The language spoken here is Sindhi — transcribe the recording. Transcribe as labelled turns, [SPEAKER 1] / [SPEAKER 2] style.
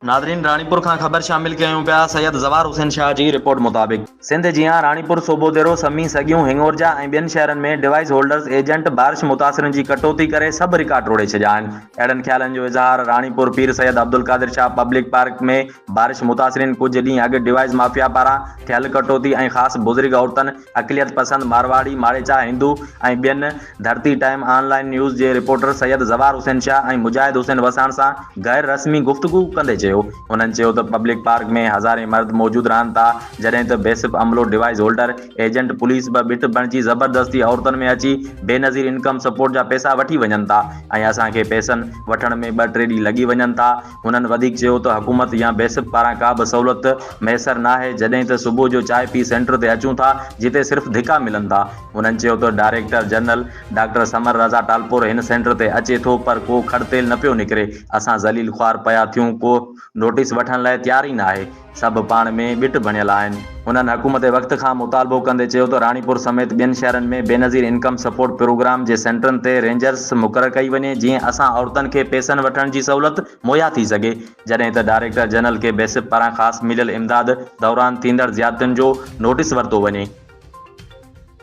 [SPEAKER 1] ناظرين راڻيپور کان خبر شامل ڪيون پيا سيد زوار حسين شاهه جي رپورٽ مطابق سنڌ جيان راڻيپور سوڀوديرو سمي سڳيون هڱورجا ۽ ٻين شهرن ۾ ڊوائيس هولڊرز ايجنٽ بارش متاثرين جي ڪٽوتي ڪري سڀ رڪارڊ ٽوڙي ڇڏيا آهن اهڙن خيالن جو اظهار راڻيپور پير سيد عبدالقادر شاهه پبلڪ پارڪ ۾ بارش متاثرين ڪجهه ڏينهن اڳ ڊوائيس مافيا پاران ٿيل ڪٽوتي ۽ خاص بزرگ عورتن اقليت پسند مارواڙي، ماريچا، هندو ۽ ٻين ڌرتي ٽائيم آن لائين نيوز جي رپورٽر سيد زوار حسين شاهه ۽ مجاهد حسين وساڻ سان غير رسمي گفتگو ڪندي چيو. هنن چيو ته پبلڪ پارڪ ۾ هزارين مرد موجود رهن ٿا جڏهن ته بيسپ عملو ڊوائيز هولڊر، ايجنٽ، پوليس به بت بڻجي زبردستي عورتن ۾ اچي بينظير انڪم سپورٽ جا پيسا وٺي وڃن ٿا ۽ اسان کي پيسن وٺڻ ۾ ٻه ٽي ڏينهن لڳي وڃن ٿا. هنن وڌيڪ چيو ته حڪومت يا بيسپ پاران ڪا به سهولت ميسر ناهي جڏهن ته صبح جو چانهه پي سينٽر تي اچون ٿا جتي صرف ڌڪا ملن ٿا. هنن چيو ته director general doctor Samar Raza Talpur هن سينٽر تي اچي ٿو پر ڪو کڙ تيل نه پيو نڪري، اسان ذليل خوار پيا ٿيون ڪو نوٽيس وٺڻ لاء تيار ئي ناهي. سڀ پاڻ ۾ ڳٽ بڻيل آهن. هنن حڪومت وقت کان مطالبو ڪندي چيو ته راڻيپور سميت ٻين شهرن ۾ بينظير انڪم سپورٽ پروگرام جي سينٽرن تي رينجرز مقرر ڪئي وڃي جيئن اسان عورتن کي پيسن وٺڻ جي سهولت مهيا ٿي سگهي جڏهن ته ڊائريڪٽر جنرل کي بيسپ پاران خاص مليل امداد دوران ٿيندڙ زيادتين جو نوٽيس ورتو وڃي.